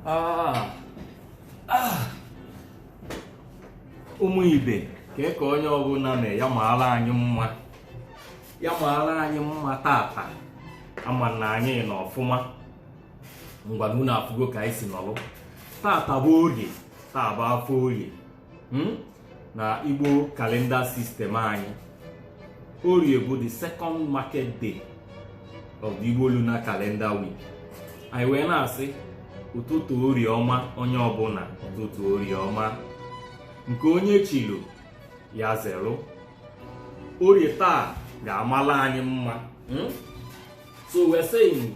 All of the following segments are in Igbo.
Ah. Ah. ụmụ ibe kee ka onye ọbụla mee ya maara anyị mma ya maara anyị mma tata ama m na anyị nọ ọfụma ngwanụ unu afụgo ka anyị si nọlụ tata bụ orie taa bụ afịa orie hmm, na igbo calendar system anyị orie bụ the second market day of the igbo lunar calendar week anyị wee na-asị ụtụtụ orie ọma onye ọbụla ụtụtụ orie ọma nke onye chili ya zeru orie taa ga-amala anyị mma hmm? so we're saying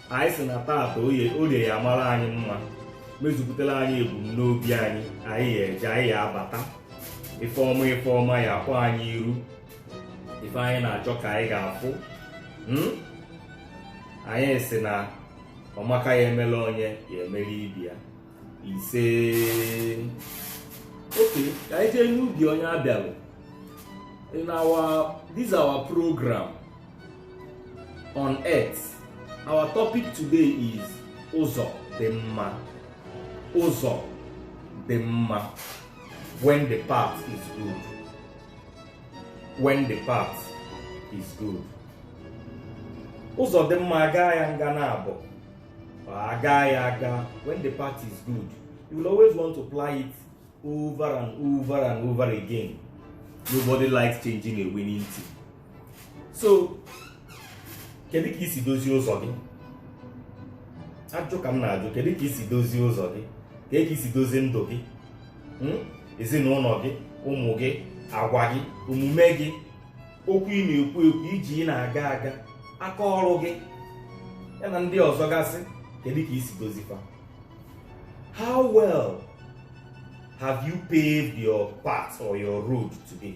anyị si na taata orie ya amara anyị mma mezupụtara anyị ebumnobi anyị anyị ya eje anyị ya abata ife ọma ife ọma ya akpọ anyị iru ife anyị na-achọ ka anyị ga-afụ hmm? anyị si na ọmaka ya emela onye ya emere ibe ya ise okay ka anyị jee n'ubi onye abịalụ in our this our program on earth our topic today is ụzọ dị mma ụzọ dị mma when the path is good when the path is good ụzọ dị mma aga ya nga na abụ aga ya aga when the path is good you will always want to apply it over and over and over again nobody likes changing a winning team so kedu ka i si dozie ụzọ gị ajụ ka m na-ajụ kedu ka i si dozie ụzọ gị kedu ka i si dozie ndụ gị hmm? ezinụlọ gị ụmụ gị agwa gị omume gị okwu ị na-ekwu ekwu ije ị na-aga aga aka ọrụ gị ya na ndị ọzọ gasị kedu ka i si dozie fa how well have you paved your path or your road today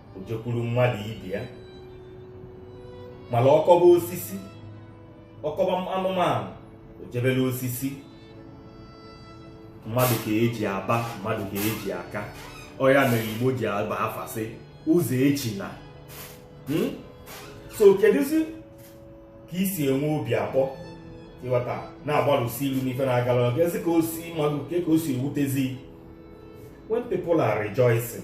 o jekwuru mmadụ ibe ya mana ọ kọba osisi ọ kọba anụmanụ o jebere osisi mmadụ ka e ji aba mmadụ ka e ji aka ọ ya mere igbo ji aba afa sị Ụzọechina hmm? so kedụzi ka i si enwe obi akpọ ịghọta na-agbalụsi iru n'ife na-agala kezi ka o si mmadụ kee ka o si ewutezi when people are rejoicing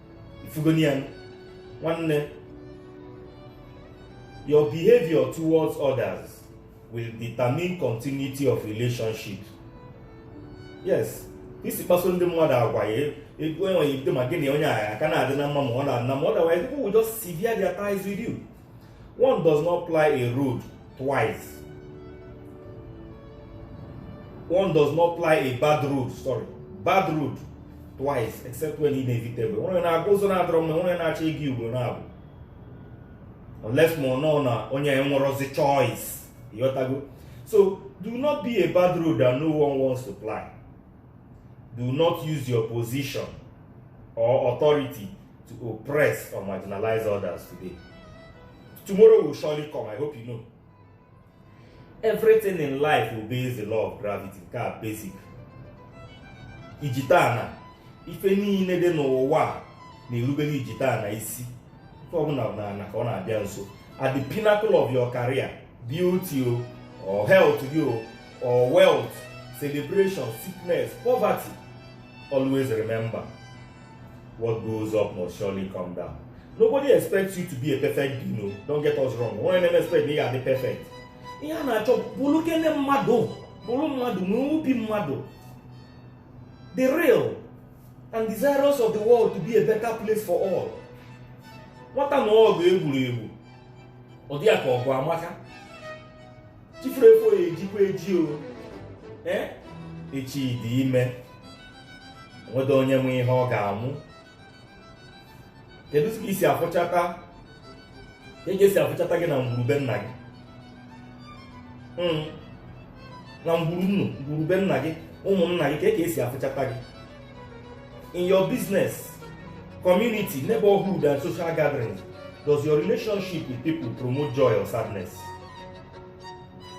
ị fụgonụ ya nwanne your behavior towards others will determine continuity of relationship yes i si kpaso ndị mmadụ agwa ya ego enweghị bido ma gị na onye a ga-aka na-adị na mma ma ọ na-adị na mma otherwise people will just sever their ties with you One does not ply a road twice. One does not ply a bad road, sorry, bad road twice except when inevitable. Onye na-aga ụzọ na-adịrọ mma, onye na-achọ ịga ugbo naabọ. Unless ma ọ nọ na onye enwerọzi choice. Ịghọtago? So, do not be a bad road that no one wants to ply. do not use your position or authority to oppress or marginalize others today tomorrow will surely come i hope you know everything in life obeys the law of gravity nke a basic ijita ana ife niile dị n'ụwa na-erubere ijita ana isi ife ọbụla na ka ọ na-abịa nso at the pinnacle of your career beauty o or health gị o or wealth celebration sickness poverty always remember what goes up must surely come down nobody expects you to be a perfect being o don't get us wrong onye na-expect na ị ga-adị perfect ihe a na-achọ bụrụ kene mmadụ bụrụ mmadụ n'obi mmadụ be real and desirous of the world to be a better place for all nwata nụọ ọgụ egboro egbo ọ dị ya ka ọgụ amaka chi foro efo ya ejikwa eji o ee echi dị ime o nwerọ onye ma ihe ọ ga-amụ keduzi ka esi afụchata ka esi afụchata gị na ngwuru be nna gị na ngwuru nnu ngwuru be nna gị ụmụnna gị ka e ka esi afụchata gị in your business community neighborhood and social gathering does your relationship with people promote joy or sadness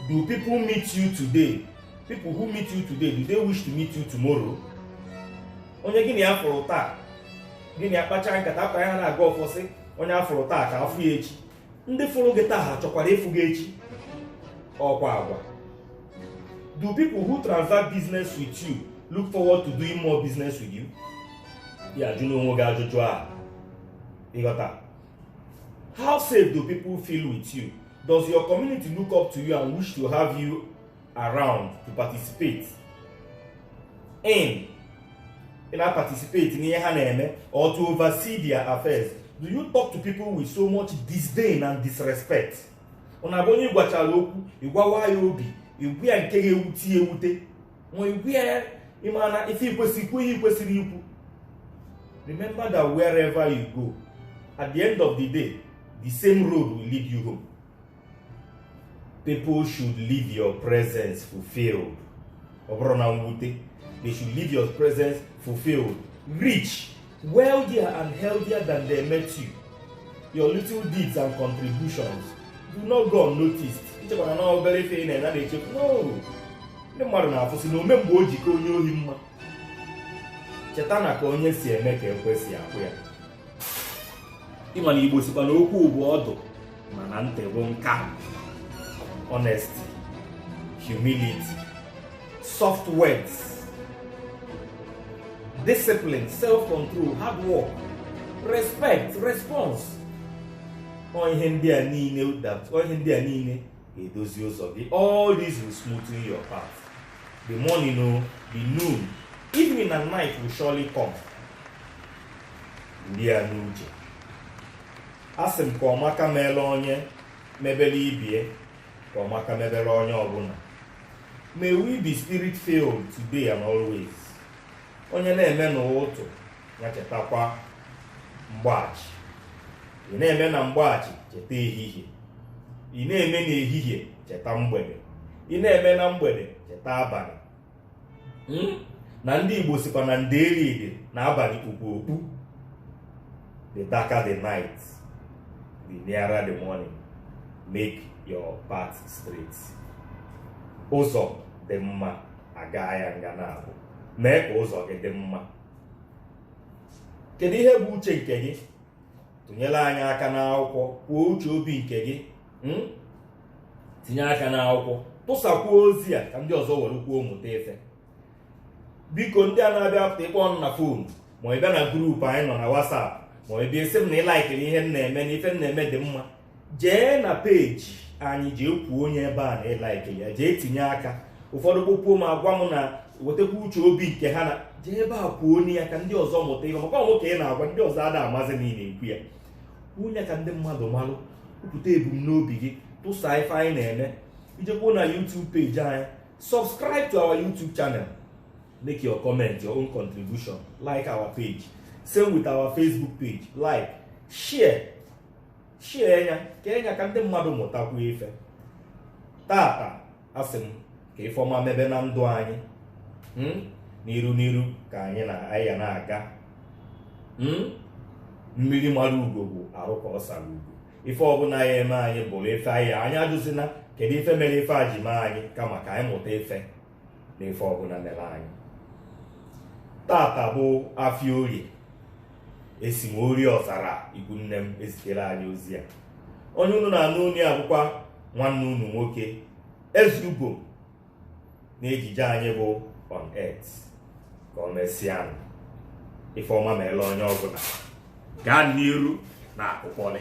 do people meet you today people who meet you today do they wish to meet you tomorrow onye gị na ya fụrụ taa gị na ya kpachaa nkata akpa ya na-aga ọfọsị onye afụrụ taa ka afụ ya echi ndị fụrụ gị taa ha chọkwara ịfụ gị echi ọkwa agwa do people who transact business with you look forward to doing more business with you ị ya-ajụ onwe gị ajụjụ a ị ghọta how safe do people feel with you does your community look up to you and wish to have you around to participate in ị na-participate n'ihe ha na-eme or to oversee their affairs do you talk to people with so much disdain and disrespect ọ na-abụ onye ị gwachara okwu ị gbawaa ya obi ị gwa ya nke ga-ewute ya ewute ma ị gwa ya ị mana ife ikwesị ikwu ihe ikwesịrị ikwu remember that wherever you go at the end of the day the same road will lead you home people should leave your presence fulfilled ọ bụrọ na mwute they should leave your presence fulfilled rich wealthier and healthier than they met you your little deeds and contributions do not go unnoticed echekwana na obere ife ị na-eme na-echekwa no ndị mmadụ na-afụsị na ome mgbe o ji ka onye ohi mma cheta na ka onye si eme ka ekwe si akpọ ya ịma na igbo sikwa na okwu bụ ọdụ mana ntị bụ nka honesty humility soft words discipline self-control hard work respect response ọ ihe ndị a niile ọ ihe ndị a niile ga-edozi ụzọ gị all this will smoothen your path the morning o the noon evening and night will surely come ndị a n'uche asị m ka ọmaka meele onye mebere ibe ya ka ọmaka mebere onye ọbụla may we be spirit filled today and always onye na-eme n'ụtụtụ ya chetakwa mgbachi ị na-eme na mgbachi cheta ehihie ị na-eme n'ehihie cheta mgbede ị na-eme na mgbede cheta abalị hmm? na ndị Igbo sikwa na ndeeri dị na abalị kpukpu okpu the darker the night the nearer the morning make your path straight ụzọ dị mma a gaa ya nga n'abụọ mee ka ụzọ gị dị mma kedu ihe bụ uche nke gị tụnyere anyị aka n'akwụkwọ kwuo uche obi nke gị hmm? tinye aka n'akwụkwọ tụsakwuo ozi a ka ndị ọzọ werekwuo mụta ife biko ndị a na-abịa apụta ịkpọ na phone ma ị bịa na group anyị nọ na whatsapp ma ị bịa esi m na ị laikiri ihe m na-eme na ife m na-eme dị mma jee na peji anyị jee kwunye ebe a na ị laikili ya jee tinye aka ụfọdụ kpọkuo m agwa m na wetakwa uche obi nke ha na jee ebe a kwunye ya ka ndị ọzọ mụta ihe maka ọ mụ ka ị na-agwa ndị ọzọ ada amazi na ị na-ekwu ya kwunye ka ndị mmadụ malụ kwupụta ebumnobi gị tụsa ife anyị na-eme i jekwuo na YouTube peji anyị subscribe to our YouTube channel make your comment your own contribution like our page same with our Facebook page like share share ya kee ya ka ndị mmadụ mụtakwu ife taata asị m ka ife ọma mebe na ndụ anyị hmm? n'iru n'iru ka anyị ya na-aga hmm? mmiri mara ugo bụ arụ ka ọ sara ugo ife ọbụla ya-eme anyị bụrụ ife anyị anyị ajụzina kedu ife mere ife a ji mee anyị kama ka anyị mụta ife n'ife ọbụla mere anyị taata bụ afịa orie esi m orie ọzara ikwu nne m ezitere anyị ozi a onye unu na-anụ unu ya bụkwa nwanne unu nwoke ezeugo na ejije anyị bụ on earth ka ọ mesịanụ. ife ọma meele onye ọbụla gaa n'iru na akụkọlị